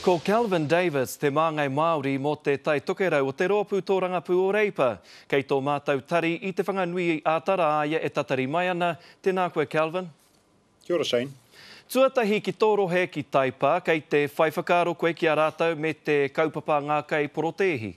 Ko Kelvin Davis te māngai Māori mō Te Tai Tokerau o te Rōpū Tōrangapū o Reipa. Kei tō mātou tari i Te Whanganui i āta rā a ia e tatari mai ana. Tēnā koe Kelvin. Kia ora Shane. Tuatahi ki tō rohe ki Taipā, kei te whai whakaaro koe ki a rātou me te kaupapa ngākau porotēhi?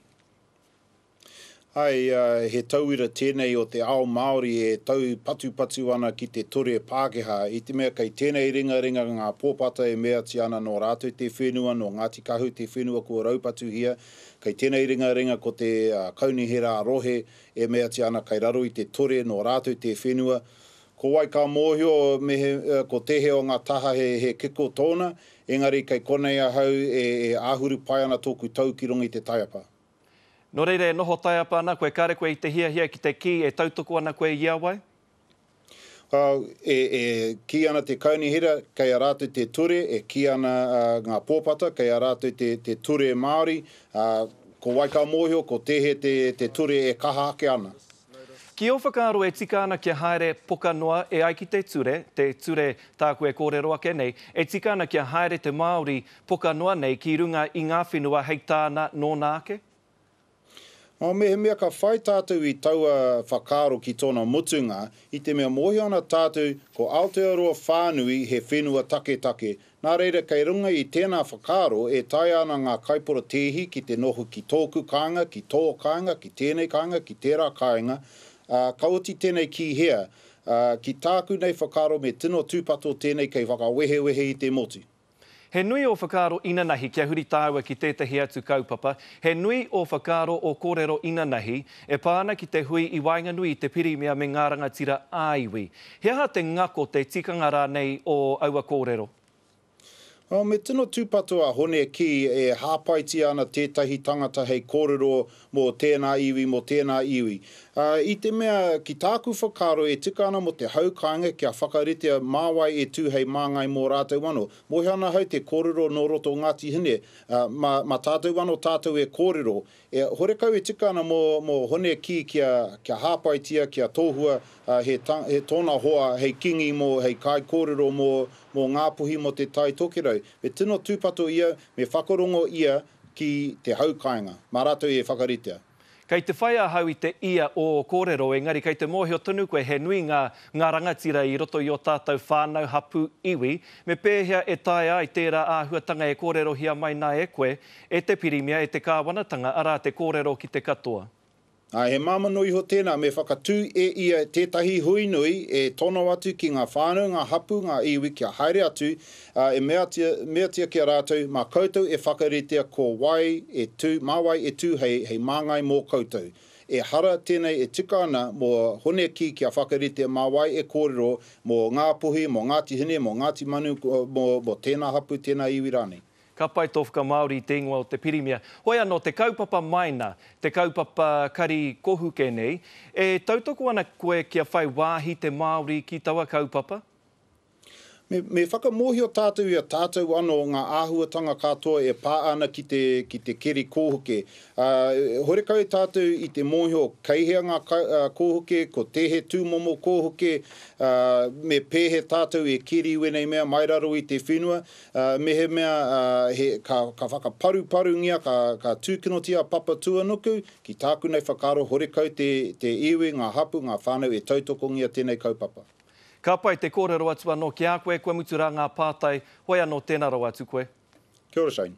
Hai, he tauira tēnei o te ao Māori e taupatupatu ana ki te ture Pākehā, i te mea kei tēnei ringaringa ngā pōpata e meatia ana nō rātou te whenua, nō Ngāti Kahu te whenua kua raupatuhia, kei tēnei ringaringa ko te kaunihera rohe e meatia ana kei raro i te ture nō rātou te whenua, ko wai ka mōhio me he, ko tēhea o ngā taha he, he kiko tōna, engari kei konei ahau e, e āhuru pai ana tōku tau ki runga i te taiapa. Nō reira e noho taiapa ana koe kāre koe i te hiahia ki te kī e tautoko ana koe i a wai? Au, e, e kī ana te Kaunihera kei a rātou te ture, e kī ana ngā pōpata kei a rātou te, te ture Māori, ā, ko wai ka mōhio ko tēhea te, te ture e kaha ake ana? Ki ō whakaaro e tika ana kia haere poka noa e ai ki te ture, te ture tāku e kōrero ake nei, e tika ana kia haere te Māori poka noa nei ki runga i ngā whenua hei tāna nōna ake? Nō mehemea ka whai tātou i taua whakaaro ki tōna mutunga, i te mea mōhio ana tātou ko Aotearoa whānui he whenua taketake, Nā reira kei runga i tēnā whakaaro e taea ana ngā kaiporatēhi ki te noho ki tōku kāinga, ki tō kāinga, ki tēnei kāinga, ki tērā kāinga, ā, ka oti tēnei ki hea, ā, ki tāku nei whakaaro me tino tūpato tēnei kei whakawehewehe i te motu. He nui ō whakaaro inanahi kia huri tāua ki tētahi atu kaupapa, he nui ō whakaaro ō kōrero inanahi e pā ana ki te hui i waenganui i te Pirimia me ngā rangatira ā-iwi. He aha te ngako, te tikanga rānei o aua kōrero? Oh, me tino tūpato a Hone ki e hāpaitia ana tētahi tangata hei kōrero mō tēnā iwi, mō tēnā iwi. Uh, i te mea, ki tāku whakaaro, e tika ana mō te hau kāinga kia whakaritea mā wai e tū hei māngai mō rātou anō. Mōhio ana ahau te kōrero nō roto o Ngāti Hine, uh, mā, mā tātou anō tātou e kōrero, E horekau e tika ana mō Hone kī kia hāpaitia, kia tohua he tōna hoa hei kīngi mō, hei kaikōrero mō Ngāpuhi, mō Te Tai Tokerau. Me tino tūpato ia, me whakarongo ia ki te hau kāinga. Mā rātou e whakaritea. Kei te whai ahau i te ia o ō kōrero, engari kei te mōhio tonu koe he nui ngā ngā rangatira i roto i ō tātou whānau, hapū, iwi. Me pēhea e taea ai tērā āhuatanga e kōrerohia mai nā e koe, E te Pirimia, e te Kāwanatanga, arā te kōrero ki te katoa. Ā, he māmano iho tēnā me whakatū e ia tētahi hui nui e tono atu ki ngā whānau, ngā hapū, ngā iwi kia haere atu, ā, e meatia, meatia ki a rātou, mā koutou e whakaritea ko wai e tū, mā wai e tū hei, hei māngai mō koutou. Ehara tēnei e tika ana mō Honeki kia whakarite mā wai e kōrero mō Ngāpuhi, mō Ngāti Hine, mō Ngāti Manu, mō, mō tēnā hapū, tēnā iwi rānei. Ka pai tō whakamāori i te ingoa o te Pirimia. Hoi anō, te kaupapa maina, te kaupapa kari kohuke nei, e tautoko ana koe kia whai wāhi te Māori ki taua kaupapa? Me, me whakamōhio tātou i a tātou anō ngā āhuatanga katoa e pā ana ki te, ki te keri kōhuke. Ā, horekau tātou i te mōhio kei hea ngā kōhuke, ko tēhe tūmomo kōhuke, ā, me pēhe tātou e keri i wēnei mea mai raro i te whenua. Mehemea ka whakaparuparungia, ka tūkinotia a Papatūānuku, ki tāku nei whakaaro horekau te iwi, ngā hapū, ngā whānau e tautokongia tēnei kaupapa. Ka pai te kōrero atu anō ki a koe, kua mutu rā ngā pātai, hoi anō tēnā rawa atu koe. Kia ora Shane.